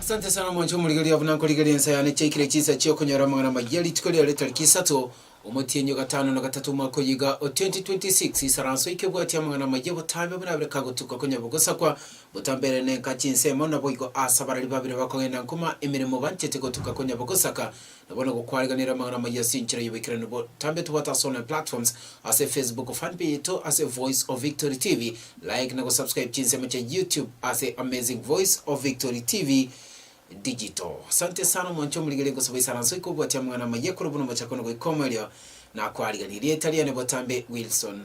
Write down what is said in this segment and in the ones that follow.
Asante sana omonto omorigereria buna nkorigereria ensa yane chiaikire chinsa chi'okonyora amang'ana amaya rituko riaye tariki isato Omotienyi o gatano na gatato omwaka oyio iga o 2026, Isaranso ikebwatia amang'ana amayia obotambe buna abere kagotuka konya bogosakwa botambe ere nenka chinsemo, naboigo aase abarari babere bakogenda nkuma emeremo banchete gotuka konya bogosaka na bono gokwariganera amang'ana amayia ase enchera y'oboikeranu botambe tobwate ase online platforms ase Facebook fanpage yaito ase Voice of Victory TV like na gosubscribe chinsemo chia YouTube ase Amazing Voice of Victory TV Digital. Asante sana omonto omorigereria gosaba isaranso iko goatia amang'ana amaya korwa buna omochako na goika omoerio. Nakwarigereria rieta riane botambe Wilson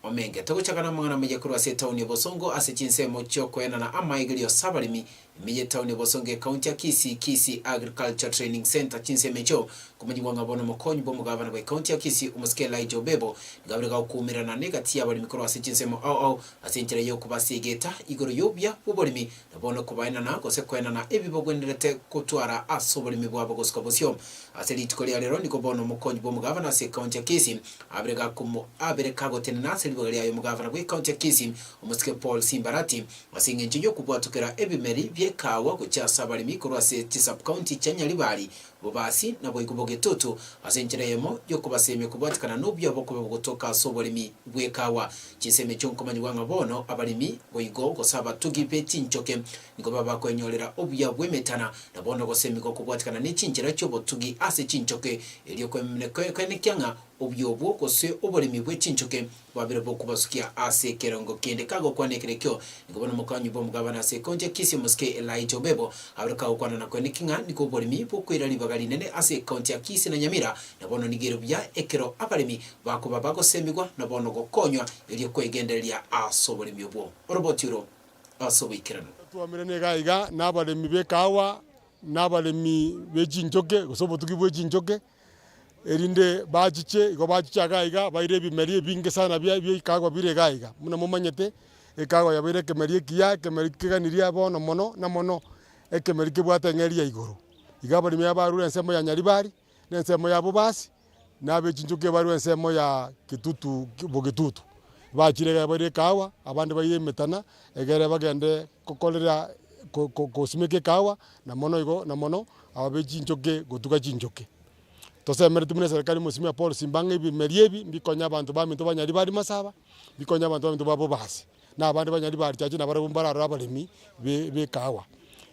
Omenge. Togochaka na amang'ana amaya korwa ase etaoni ya Bosongo ase chinsemo chiokoenana amaegerio ase abaremi ime ye etaoni ya Bosongo ekaunti ya Kisii, Kisii Agriculture Training Centre chinsemo echio nkomanyigwa ng'a bono omokonyi bw'omogavana bwa ekaunti ya Kisii Omosike Elijah Obebo niga bire gakokuumererana negati y'abaremi korwa ase chinsemo ao ao ase enchera y'okobasiegeta igoro y'obuya bw'oboremi Na bono kobaenana, gose koenana, ebi bagwenerete gotwara ase oboremi bwabo gosuka bosio. Ase rituko ria rero nigo bono omokonyi bw'omogavana ase ekaunti ya Kisii abere gakomo abere kagotenena ase ribaga riaye omogavana bw'ekaunti ya Kisii, omosike Paul Simbarati, ase engencho y'okobwatokera ebimeri bi'ekaawa gochia ase abaremi korwa ase chisub-county chia Nyaribari Bobaasi naboigo bogetoto ase enchera eyemo y'okobasemia kobwatikana n'obuya bokoba bogotoka ase oboremi bw'ekaawa. Chinsemi chi'okomanyigwa ng'a bono abaremi boigo gose abatugi be chinchoke nigo baba kwenyorera obuya bw'emetana, na bono gosemigwa kobwatikana ne chinchera chi'obotugi ase chinchoke, erio kwemenekia ng'a obuya obwo gose oboremi bwe chinchoke Babere b'okobasukia ase ekerongo kende kagokwana ekerekio, nigo bono mokonyi bw'omogabane ase ekonche ekesi y'omosike Elijah Obebo. Abere kagokwanana kwene ki ng'a nigo oboremi bokoira ribaga rinene ase ekonche ya Kisii na Nyamira, na bono nigo ere buya ekero abaremi bakoba bagosemigwa na bono gokonywa erio kwegendereria ase oboremi obwo. Oroboti oro ase oboikeranu. Totwamerane iga iga nabaremi b'ekaawa, nabaremi be chinchoke, gose obotugi bwe chinchoke, Erinde bachiche, igo bachiche iga iga, baire ebimeri ebinge sana bia ebio ikago bire iga iga. Buna momanyete, ikago yabeire ekemeri ekiya, ekemeri keganirie bono mono na mono, ekemeri kebwate eng'eria ya igoro. Iga abaremi aba barure ensemo ya Nyaribari, na ensemo ya Bobasi, na abe chinchoki barue ensemo ya Getutu Bogetutu. Bachire iga baire ekahawa, abande baire emetana, egere bagende gokorera ko ko kosimeka ekahawa. Na mono igo, na mono aba be chinchoke gotuga chinchoke. Tosemeretie buna eserekari y'Omosimia Paul Simba ng'a ebimeria ebi mbikonye abanto baminto banyari ba Rimasaaba, na mbikonye abanto baminto ba Bobasi, na abande banyari ba Richachi, na barabwo mbararore abaremi b'ekaawa,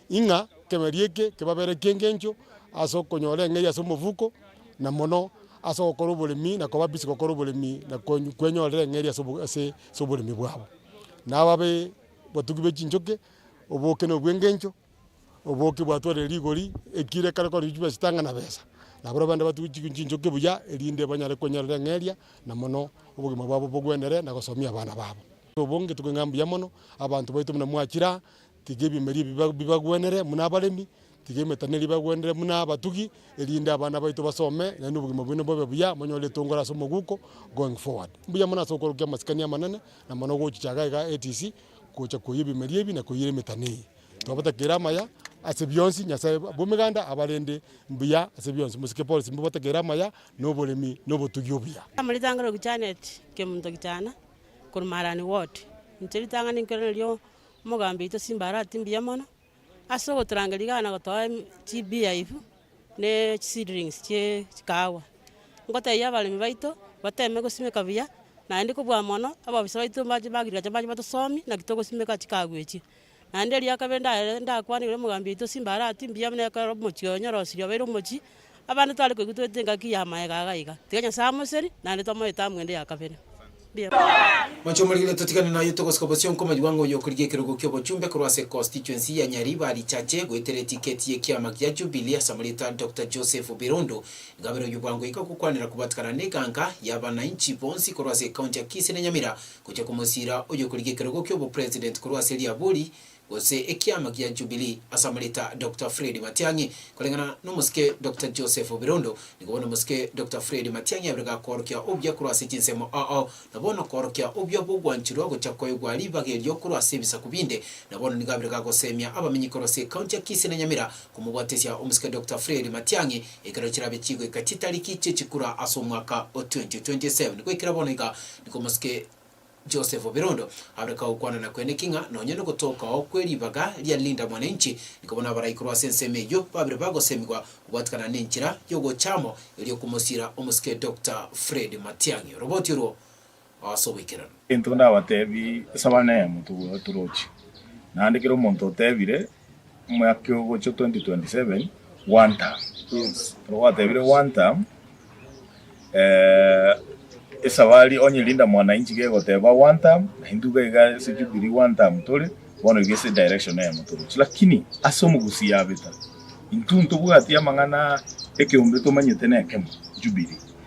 ing'a ekemeria eke kebabere ki'engencho ase okonyora eng'eria ase omofuko, na mono ase ogokora oboremi na koba busy gokora oboremi na kwenyorera eng'eria ase oboremi bwabo. Na aba batugi be chinchoke, oboke na obw'engencho. Oboke bwatwarire rigori, ekiro ekero korwa chibesa chitanga na besa, na barabwo bande batuge chinchoke buya, erinde banyare kwenyorera eng'eria, na mono obogima bwabo bogwendere na gosomia abana babo. Obonge tokoigwa ng'a mbuya mono, abanto baito buna mwachira, tiga ebimeria ebi biba bibagwenere buna abaremi, tiga emetano eria ebagwenere buna abatugi, erinde abana baito basome, naende obogima bwaino bobe buya, monyore etongoro ase omoguko going forward. Mbuya mono ase ogokora okia amasikani amanene, na mono gochichaga iga ATC, gocha koyia ebimeria ebi na koiyera emetano eye. Twabatakeire amaya ase bionsi, Nyasae bw'emeganda abarende mbuya ase bionsi. Mosike Paul Simba obatakeire amaya na oboremi na obotugi obuya. Amo ritang'ani oku Janet Kemunto Kichana korwa Marani Ward. Inche ritang'ani nkerore nario omogambi oito Simba arati mbuya mono. Ase ogotorangeria iga na gotoa chibeer ebi, ne chiseedlings chie chikahawa, ngotebia abaremi baito bateme gosimeka buya, naende kobua mono abafisa baito ba agriculture mbabane batosomi naki togosimeka chikahawa echio. Naende erio ya kabere ndare ndakwane ore omogambi oito Simba arati mbuya buna ekero omochie oye onyora osirie obeire omochie. Abande tware koigwa toete engaki y'amaega aga iga, tiga Nyasae amoseri, naende twamoete amo ende ya kabere. Mbiabwate. Moche omorikire totigane naye togosika bosio nkomanywa ng'a oyokorigia ekerogo ki'obochumbe korwa ase constituency ya Nyari barichache goetera etiketi y'ekiama gia Jubilee ase amarieta Doctor Joseph Birundu Ngabere oyio bwango iga gokwanera kobatigana n'eganka y'abanainchi bonsi korwa ase ekaunti ya Kisii na Nyamira gocha komosiira oyokorigia ekerogo ki'obopresident korwa ase Liabori gose ekiama gia Jubilee asamoreta Doctor Fred Matiang'i koreng'ana nomosike Doctor Joseph Birondo, nigo bono omosike Doctor Fred Matiang'i abere gakoorokia obuya korwa ase chinsemo ao, na bono koorokia obuya bw'ogwanchurwa gocha koegwa ribaga erio korwa ase ebisaku binde, na bono nigo abere gagoseemia abamenyi korwa ase County ya Kisii na Nyamira komobwatesia omosike Doctor Fred Matiang'i ekero chirabe chigoika chitariki chie chikura ase omwaka o 2027. Goikera bono iga nigo omosike. Joseph Birondo aboreka gokwanana kwene ki ng'a nonya nogotookaoo kwe ribaga ria Linda Mwananchi nikoba nabaraikuru ase ensemo eyio babire bagosemigwa gobwatikana nenchera yogocha amo erio okomosira omosike Doctor Fred Matiang'i. Oroboti orwo ase oboikeranu. Intwe ndabatebi, Saba nemo, togwe, toroche. Naende kera omonto otebire, Omwaka ogocha 2027 one term ekero gwatebire one term esabari onye Linda Mwananchi gegoteba one term na intwe iga iga ase Jubilee one term tore bono iga ase direction eyemo toroche lakini ase omogusii yabeta intwe ntobwati amang'ana ekeombe tomanyete nekemo Jubilee.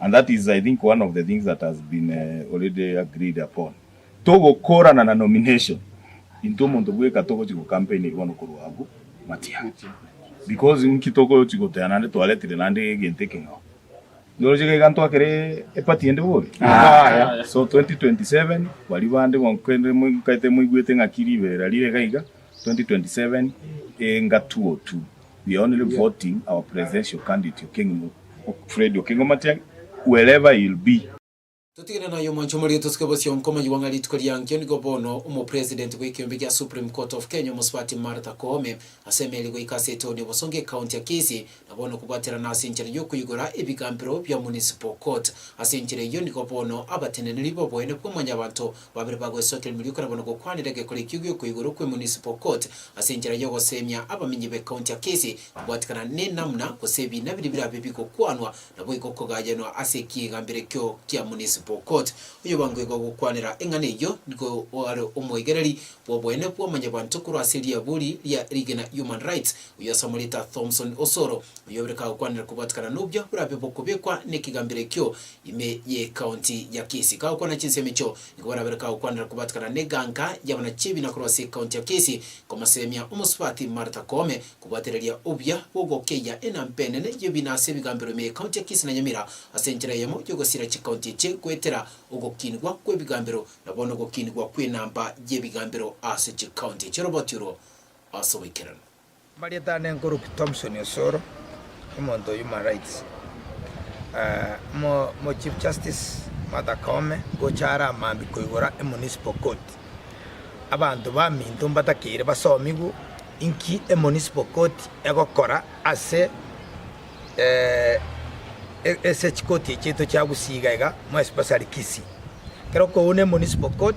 And that is I think one of the things that has been already agreed upon. Togokorana na nomination into omonto bweka togochi go campaign bono korwa abwo matia. Because nki togochi goteba naende twaretire naende egento ekeng'ao. Noroche iga iga ntwakere e party ende bobe? Yaya. So 2027 baria bande bonsi kende moikaete moigwete ng'aki ribeera rire iga iga 2027 enga 202. we are only voting our presidential candidate Okeng'u Fred Okengo Matiang'i wherever he'll be. Totigane naye omwancha omorio tosuke bosio nkomayigwa ng'a rituko riankio nigo bono Omopresident bw'ekeombe gia Supreme Court of Kenya omosubati Martha Koome ase emeeri goika ase etown ya Bosongo ecounty ya Kisii na bono kobwaterana ase enchera yokoigora ebigambero bia municipal court ase enchera eyio nigo bono abateneneri boboene bwa mwanyabanto Babere bagwesote emeriuko na bono gokwanera egekorekio gi'okoa igoro kwe Municipal Court ase enchera y'ogoseemia abamenyi be County ya Kisii kobwatekana nenamuna gose ebiina biria birabe bigokwanwa naboigo kogayanwa ase ekiegambero ekio kia Municipal Court. Oyobangwe igo gokwanera eng'ana eyio nigo oare omoigereri bw'oboene bw'omonyabanto korwa ase riabori ria rigena Human Rights oyio asamorete Thomson Osoro, oyobereka gokwanera kobwatekana nobio borabe bokobekwa nekegambero ekio Ime y'Ekaonti ya Kisii. Kagokwana chinsemo echio, nigo barabere kagokwanera kobatikana n'eganka y'abana chi'ebiina korwa ase Ekaonti ya Kisii, komoseemia omosubati Martha Koome, kobwatereria obuya bw'ogokeyia enamba enene y'ebiina ase ebigambero ime y'Ekaonti ya Kisii na Nyamira ase enchera eyemo y'ogosiira chikaonti echi goetera ogokinigwa kw'ebigambero na bono ogokinigwa kw'enamba y'ebigambero ase chikaonti echi. Oroboti oro ase oboikeranu. Amarieta ane nkoroki Thomson Osoro, omonto o Human Rights, mo Chief Justice Martha Koome gocha are amambia koigora e Municipal Court. Abanto baminto mbatakeire basomigwe inki e Municipal Court egokora ase ase chikoti echiaito chia gusii iga iga more especially Kisii. Ekero okouna e Municipal Court.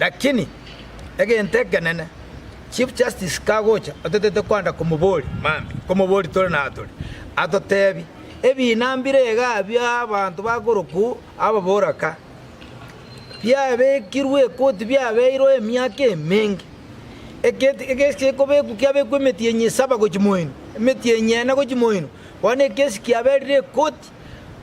Lakini egento ekenene, Chief Justice kagocha otatete kwanda komoboria mambi, nkomoboria tore na tore, atotebi, Ebina mbire iga bia abanto bakorokwa ababoraka, biabekirwe ekoti biabeirwe emiaka emenge, ekesi ekobekwa kiabekwa emetienyi esaba gochia moino, emetienyi ene gochia moino, bono ekesi kiaberire ekoti.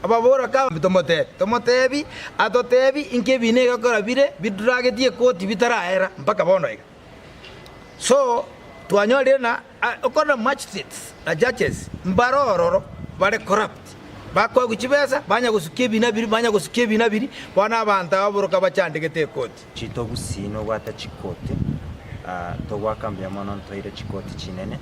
Ababora kabambe, Tomotebi, tomotebi, atotebi inki ebiina egekora bire biduragetie koti bitaraera mpaka bono iga. So twanyorire na okorora magistrates na judges mbare ororo bare corrupt, bakoegwa chibesa, banya gosukia ebiina biria, banya gosukia ebiina biria, bono abanto aba boroka bachandegete ekoti. Chitobusii nobwate chikoti, togoaka mbuya mono ntoire chikoti chinene,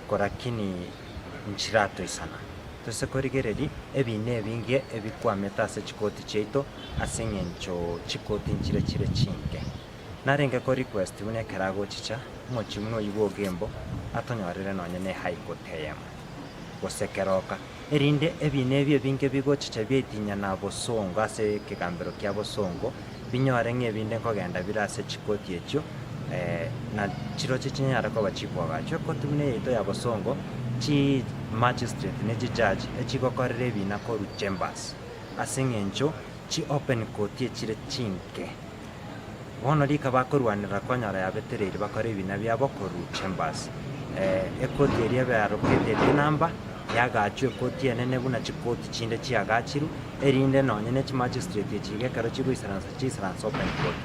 korakini. nchiratoisana, tose korigereria ebiina ebinge ebikwamete ase chikoti chiaito ase engencho chikoti nchire chire chinge. Narenge ko request buna ekeragochicha mochie buna oyio bwogembo atonyorere nonye ne high court eyemo, gose keroka, erinde ebiina ebi ebinge bigochicha biaitinyana bosongo ase ekegambero kia bosongo, binyore ng'a ebinde nkogenda bire ase chikoti echio, na chirochio chinyare koba chikwago achio, ekoti buna eyaito y'abosongo, chimachistrate ne chijaji, echigokorera ebiina korwa chambers, ase eng'encho chiopen koti echire chinke. Bono rika bakorwanera konyora yabetereirie bakore ebiina biabo korwa chambers. Ekoti eria ebe arokete ere enamba, yagachwa ekoti enene buna chikoti chinde chiagachirwe. erinde nonya ne chimachistreti echi gekero chigoisaransa chiisaranse open court.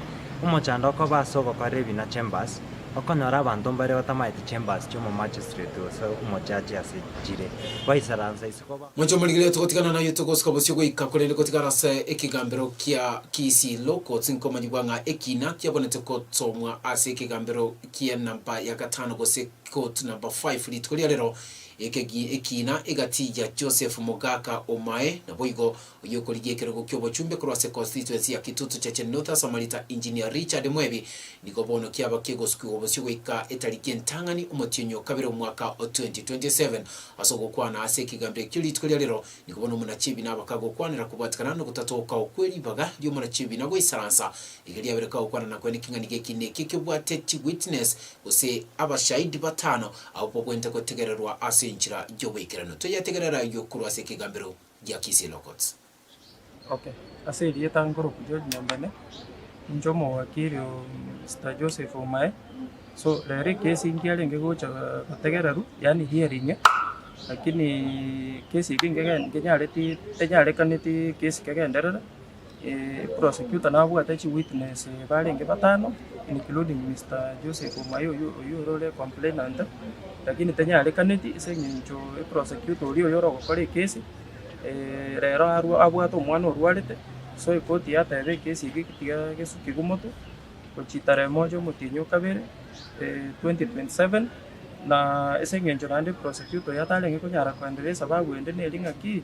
Omochando okoba ase ogokorera ebi na chambers, okonyora abanto mbare batamaete chambers chi'omomachistreti gose omojaji ase chire, baisaransa ise koba. Mochie morigereria togotigana naye togosika bosio goika korende gotigara ase ekegambero kia Kiisiilo kotsi nkomanyigwa ng'a ekina kiabonete kotomwa ase ekegambero kie number ya gatano gose quote number five. Rituko ria rero Ekegi ekiina egatiiya Joseph mogaka omae, naboigo oyokorigia ekerogo ki'obochumbe korwa ase constituency ya Kitutu Cheche North ase amarita Engineer Richard Mwebi, nigo bono kiaba kegosukigwa bosio goika etariki entang'ani omotienyi o kabere omwaka o 2027. Ase ogokwana ase ekegambero ekio rituko ria rero, nigo bono omonachiebina aba kagokwanera kobwatikana nogotatookawo kwe ribaga ri'omonachiebina goisaransa erio riabere kagokwana nakwo neking'ani gekina ekio kebwate chiwitness gose abashahidi batano Agwo kogwenta gotegererwa ase enchera y'oboikeranu, toyategerera ayio korwa ase ekegambero gia Kisii Logots. Ok ase erieta nkorokuria Nyambene inche omowakiri oo Mister Joseph Omae so rero ekesi nkiarenge gocha gotegererwa yaani hearing lakini ekesi eke nkenyareti tenyarekaneti ekesi kegenderere. Prosecutor nabwate chi witness barenge batano including Mister Joseph Omayo oyio orore complainant lakini tanyarekaneti ase eng'encho prosecutor oria oyio orogokora ekesi rero arwa abwate omwana orwarete so ekoti yateba ekesi ege tiga gesukigwe motwe gochia tarehe moja omotienyi okabere twenty twenty seven na ase eng'encho naende prosecutor oyio atarenge konyara koendelesa babu ende neri ng'aki.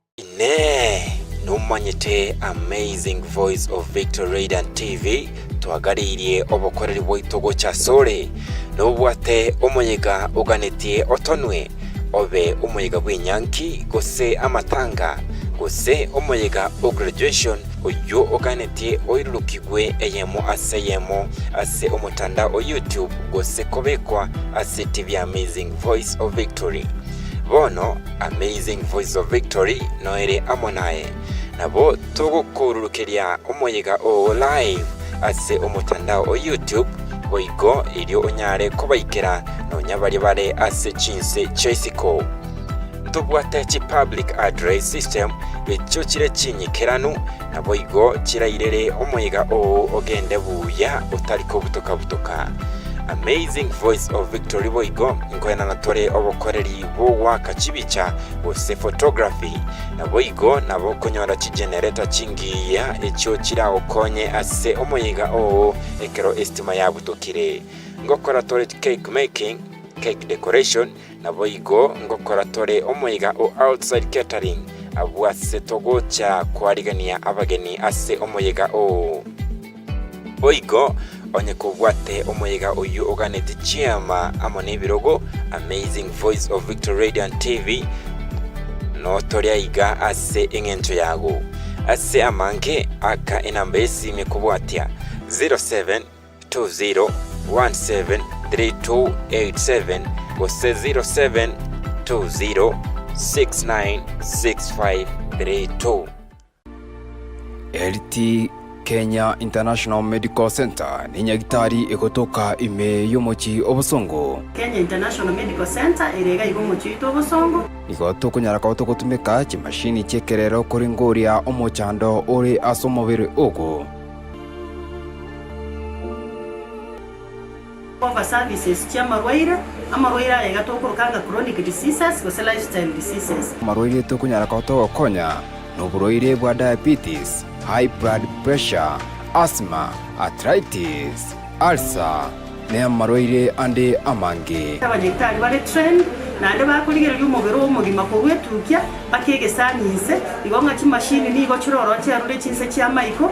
Inee! Nomanyete Amazing Voice of Victory Radiant TV? Twagaririe obokoreri bwaito gocha asore. Nobwate omoyega oganetie otonwe, obe omoyega bw'enyanki, gose amatanga, gose omoyega o graduation, oyio oganetie oirurukigwe eyemo ase eyemo ase omotandao o YouTube gose kobekwa ase TV ya Amazing Voice of Victory. Bono Amazing Voices of Victory noere amo naye. Nabo togokoururukeria omoyega oo live ase omotandao o YouTube, boigo erio onyare kobaikera nonya baria bare ase chinse chia isiko. Ntobwate chi public address system echio chire chinyikeranu, naboigo chirairere omoyega oo ogende buya otari kobutoka-butoka. Amazing Voices of Victory boigo nkoenana tore obokoreri bogoaka chibicha, gose photography, naboigo nabo okonyora chigenerator chingiya echio chiragokonye ase omoyega oo ekero estima yabutokire. Ngokora tore cake making, cake decoration, naboigo ngokora tore omoyega o outside catering abwo ase togocha koarigania abageni ase omoyega oo. Boigo, onye kobwate omoyega oyio oganeti chiama amo nebirogo, Amazing Voice of Victory Radio and TV, notore aiga ase eng'encho yago. Ase amanke, aka enamba y'esime kobwatia 0720173287 gose 0720696532. LT Kenya International Medical Centre nenyagitari egotoka ime y'omochie obosongo. Kenya International Medical Centre ere iga iga omochie oito obosongo. Nigo tokonyara koba togotumeka chimashini chi'ekerero korenge oria omochando ore ase omobere ogo. Cover services chi'amarwaire, amarwaire ayaiga tokoroka ng'a chronic diseases gose lifestyle diseases. Amarwaire tokonyara koa togokonya noborwaire bwa diabetes, high blood pressure, asthma, arthritis, ulcer, ne amarwaire ande amange. Abanyagitari bare trained naende bakorigereria omobere omogima korwa etukia mpaka egesaani inse, igo ng'a chimashini nigo chire ororo chiarure chinse chi'amaiko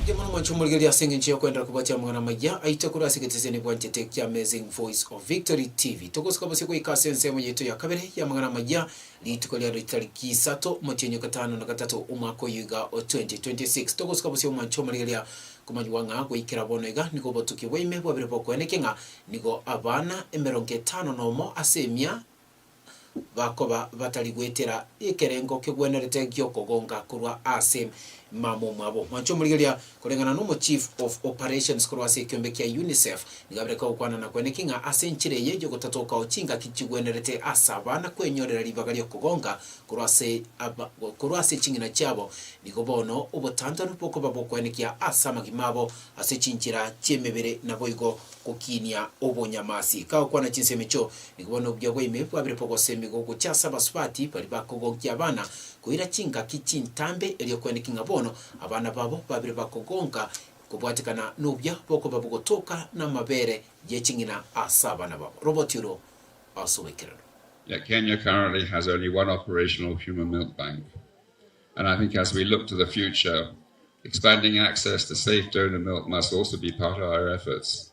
Inche mono mwanche omorigereria ase engencho y'okoenderera kobwatia amang'ana amaya aito korwa ase egeteseni bwanchete kia Amazing Voice of Victory TV. Togosuka bosio goika ase ensemo yaito ya kabere y'amang'ana amaya rituko riaro ritariki isato omotienyi o gatano na gatato omwaka oyo iga o 2026. Togosuka bosio omwanche omorigereria komanywa ng'a goikera bono iga nigo obotuki bwa ime bwabire bokoeneke ng'a nigo abana emerongo etano na omo ase emia bakoba batari goetera ekerengo kegwenerete gi'okogonka korwa ase mama omwabo. Mwancha omorigeria koreng'ana n'omochief of operations korwa ase ekiombe kia UNICEF nigo aberete ogokwanana kweneki ng'a ase enchera eye y'ogotata okao chingaki chigwenerete ase abana kwenyorera ribaga ri'okogonka korwa ase korwa ase ching'ina chiabo nigo bono obotantanu bokoba bokwenekia ase amagima abo ase chinchera chi'emebere naboigo gokiinia obonyamasi. Kagokwana chinsemo echio Nigo bono obuya bwa ime bwabire bogosemiga ogocha ase abasubati baria bakogonkia abana koira chingaki chintambe, erio kweneki ng'a bono abana babo babire bakogonka kobwatekana nobuya bokoba bogotoka namabere ye ching'ina ase abana babo. Roboti oro ase oboikeranu. Yeah, Kenya currently has only one operational human milk bank. And I think as we look to the future, expanding access to safe donor milk must also be part of our efforts.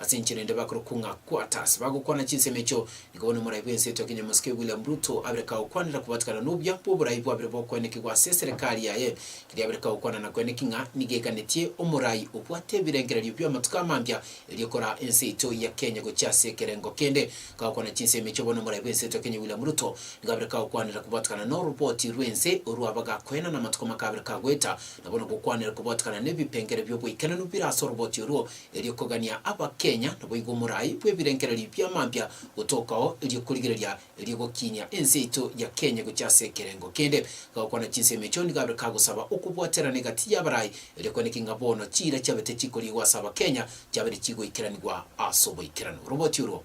Ase enchera ende bakorokwa ng'a quarters bagokwana chinsemo echio. Nigo bono omorai bw'ense etua Kenya Mosike William Ruto abere kagokwanera kobatikana n'obuya bw'oborai bwabere bokoenekigwa ase eserekari yaye, keria abere kagokwana na kweneki ng'a nigo eganetie omorai obwate ebirengererio bi'amatuko amambia erio kora ense yaito ya Kenya gochia ase ekerengo kende. Kagokwana chinsemo echio bono omorai bw'ense etua Kenya William Ruto nigo abere kagokwanera kobatikana n'oroboti rw'ense orwo abagakoena namatuko makabere kagoeta na bono gokwanera kobatikana n'ebipengere bi'obwaikeranu bire ase oroboti orwo erio kogania Abakenya naboigo omorai bw'ebirengererio bia mampia gotookao erio korigereria erio gokiinia ense yaito ya Kenya gochia ase ekerengo kende. Gagokwana chinsemo echio nigo abeire kagosaba okobwaterana egati y'abarai erio kwaniki ng'a bono chiira chiabete chikoriigwa ase Abakenya chiabeire chigoikeranigwa ase oboikeranu. Oroboti orwo.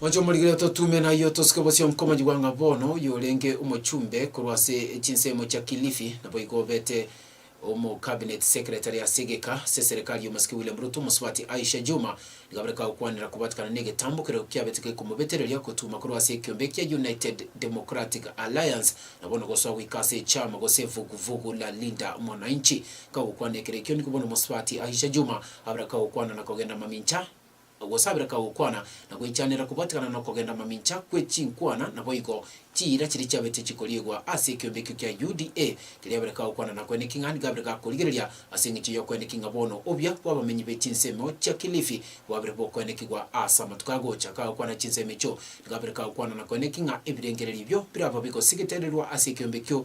Moche omorigererio totume nayio tosuke bosio nkomanyigwa ng'a bono oyo orenge omochumbe korwa ase chinsemo chia Kilifi naboigo obete omo Cabinet Secretary ase egeka ase serikali y'omosike William Ruto omosubati Aisha Jumwa rigabere kagokwanera kobatekana negetambo keria kiabete gekomobetereria gotuma korwa ase ekiombe ekia United Democratic Alliance na bono gosoa goika ase echama gose vuguvugu la Linda Mwananchi. Kagokwana ekero ekio nigo bono omosubati Aisha Jumwa abere kagokwana na kogenda mamincha Ogosabera kagokwana, na goichanera kobatigana nokogenda mamincha kwe chinkwana, naboigo chiira chiria chiabetie chikoriigwa ase ekeombe ekio kia UDA, riria abere kagokwana na kwene king'ani gabere gakorigereria ase engencho y'okweneki ng'a bono obuya bw'abamenyi be chinsemo chia Kilifi bwabere bokwenekigwa ase amatuko agocha kagokwana chinsemo echio, nigabere kagokwana na kweneki ng'a ebirengererio ebio biraba bigosigitererwa ase ekeombe ekio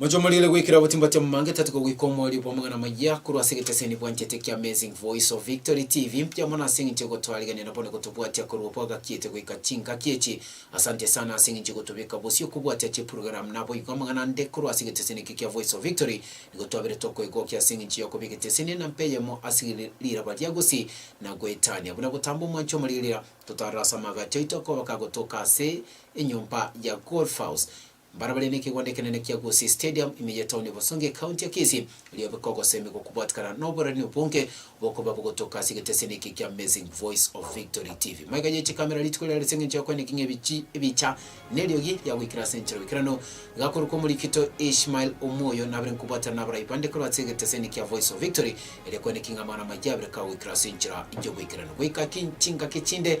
Mochie omoriire goikera botimba tia momange tatuko goika omoerio bw'amang'ana amayia korwa ase egeteseni bwanchete kia Amazing Voice of Victory TV. Mbuya mono ase eng'encho egotwarigania nabo na gotobwatia korwa obwagakiete goika chingaki echi. Asante sana ase eng'encho egotobeka bosio kobwatia chipurogaramu naboigo amang'ana ande korwa ase egeteseni eke kia Voice of Victory. Nigo twabire tokoegokia ase eng'encho ya kobeka eteseni na mpa eyemo ase ri- riraba ria gusii na goetania. Buna gotamba omwancho omoriirira, totarora ase amaagacho aito akoba kagotoka ase enyomba ya Golf House. Mbare bare nekegondo ekenene kia Gusii Stadium ime y'etaoni ya Bosonge, ekaunti ya Kisii, erio abeka ogosemi gokobwatikana na oborarani obonge bokoba bogotoka ase egeteseni eke kia Amazing Voice of Victory TV. Maiga yaeche kamera rituko riare ase engencho ya koeneka ng'a ebichi ebicha neriogi riagoikire ase enchera boikeranu. Gakorokwa Omorikito Ishmael Omoyo nabere nkobwatana nabarai bande korwa ase egeteseni kia Voice of Victory, erio koeneki ng'a amang'ana amayia abere kagoikire ase enchera y'oboikeranu goika ki chingaki chinde,